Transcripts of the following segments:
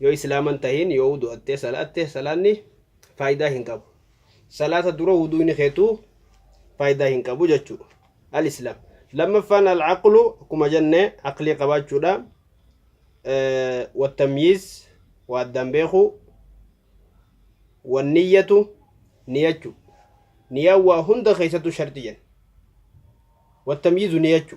Yoo islaama hin tahin yoo wudu'attee salaatte salaanni faayidaa hin qabu. Salaata dura wudu'ni keetu faayidaa hin qabu jechuu. Al-islaam. Lammaffaan al-aqlu akkuma jenne aqlii qabaachuudha. Wattamyiiz waa addaan beeku. Wanniyyatu niyachu. Niyaan waa hunda keessattuu sharxi jenna. Wattamyiizu niyachu.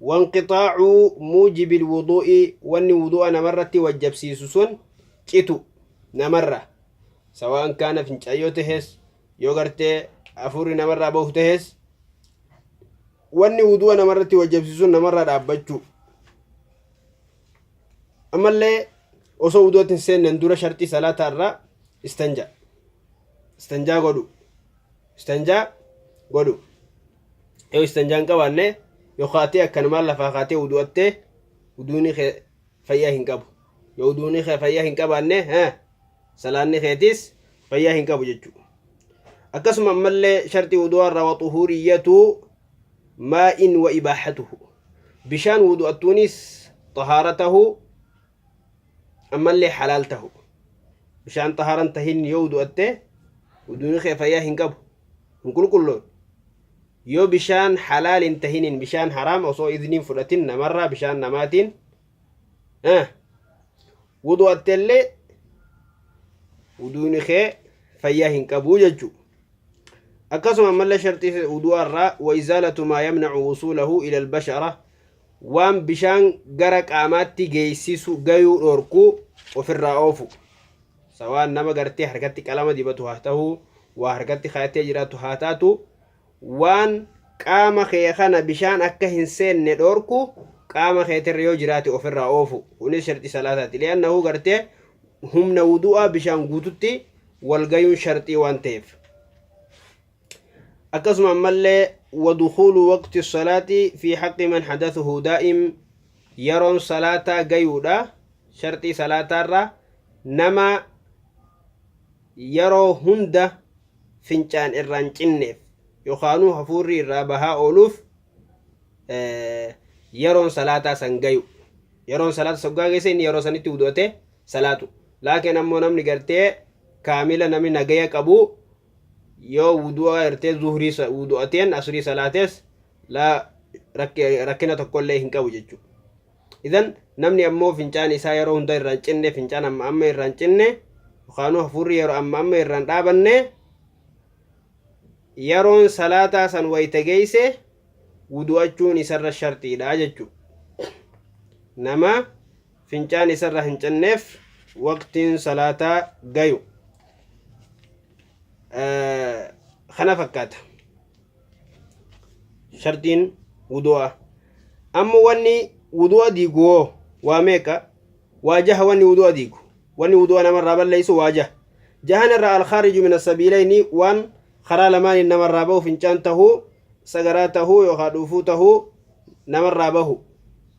wanqixaacu muujibil wuduu'i wanni wuduu'a namarratti wajjabsiisu sun citu namarra sawaan kaana fincaan yoo tahes yoo gartee afuurri namarraa bahu tahes wanni wuduu'a namarratti wajjabsiisu sun namarraa dhaabbachuu ammallee osoo wuduu'atti hin seennan dura sharxii salaataa irraa istanjaa istanjaa godhu istanjaa godhu Yoo istanjaa hin qabaanne yoo kaatee akkanumaan lafaa kaatee wudu'attee wuduuni kee fayyaa hin qabu. Yoo wuduuni kee fayyaa hin qabaanne haa salaanni keetis fayyaa hin qabu jechuudha. Akkasuma ammallee sharxii wudu'aa irraa waxuhuuriyyatu maa'in wa ibaahatuhu. Bishaan wudu'attuunis xahaara tahu ammallee halaal tahu bishaan xahaaran tahin yoo wudu'atte wuduuni kee fayyaa hin qabu hin qulqulloon yoo bishaan halaal hin tahinin bishaan haraam osoo idniin fudhatin namarraa bishaan namaatiin wudu'attellee wuduuni kee fayyaa hin qabu jechuu akkasuma ammallee sharxii wudu'arraa wa izaalatu maa yamnacu wusuulahu ila albashara Waan bishaan gara qaamaatti geessisu gayuu dhorku ofirraa oofu. Sa waan nama gartee harkatti qalama dibatu haa tahu, waa harkatti kaa'attee jiraattu haa taatu, waan qaama kee kana bishaan akka hin seenne dhorku qaama keetirra yoo jiraate ofirraa oofu. Kunis sharxii salaataati. Li'annahu gartee humna wudu'aa bishaan guututti wal gayuun sharxii waan ta'eef. akkasuma ammallee wadukhuulu waqti salaati fi haqqi man hadathuhu daa'im yeroon salaataa gayuudha sharxii salaataarra nama yeroo hunda fincaan irraan cinneef yookaanuu hafuurri irraa bahaa ooluuf yeroon salaataa san gayu yeroon salaata soggaa geesse inni yeroo sanitti wudu'ate salaatu laakiin ammoo namni gartee kaamila namni nagaya qabu yoo wudu'aa hirtee zuhrii sa- wudu'ateen asrii salaatees laa rakki- rakkina tokkollee hin qabu jechuudha. Idan namni ammoo fincaan isaa yeroo hunda irraan cinne fincaan amma amma irraan cinne yookaanuu hafuurri yeroo amma amma irraan dhaabanne yeroon salaataa san wayita geeyse wudu'achuun isarra sharxiidha jechuudha. Nama fincaan isarra hin cinneef waqtiin salaataa gayu kana fakkaata sharxiin wudu'a amma wanni wudu'a diigu hoo waa meeqa waa jaha wanni wudu'a diigu wanni wudu'a namarraa balleessu waa jaha jahan irraa alkhaariju min asabiilayni waan karaa lamaaniin namarraa bahu fincaan tahuu sagaraa tahuu yookaan dhuufuu tahuu namarraa bahu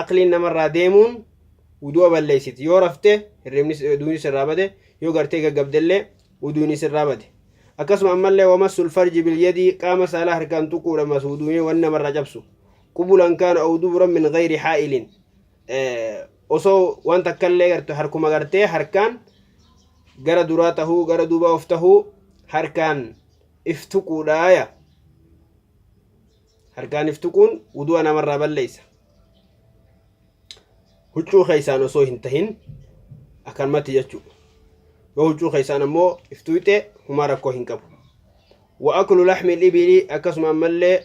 aqliin namarraa deemuun wudu'a balleessiti yoo rafte hirribnis duunis sirraa bade yoo gartee gaggabdellee wuduunis sirraa bade akkasuma ammallee wamassul farji bilyadii qaama saalaa harkaan tuquudha mas wuduunii wan namarraa cabsu qubulan kaana aw duburan min gayri haa'ilin osoo waan takkallee garte harkuma gartee harkaan gara duraa tahuu gara duuba of tahuu harkaan if tuquudhaaya Harkaan if tuquun wudu'a namarraa balleessa. Huccuu keessaan osoo hin tahin akkanumatti jechuu. Yoo huccuu keessaan ammoo if tuyxee humaa rakkoo hin qabu. Wa aklu laxmi libili akkasuma ammallee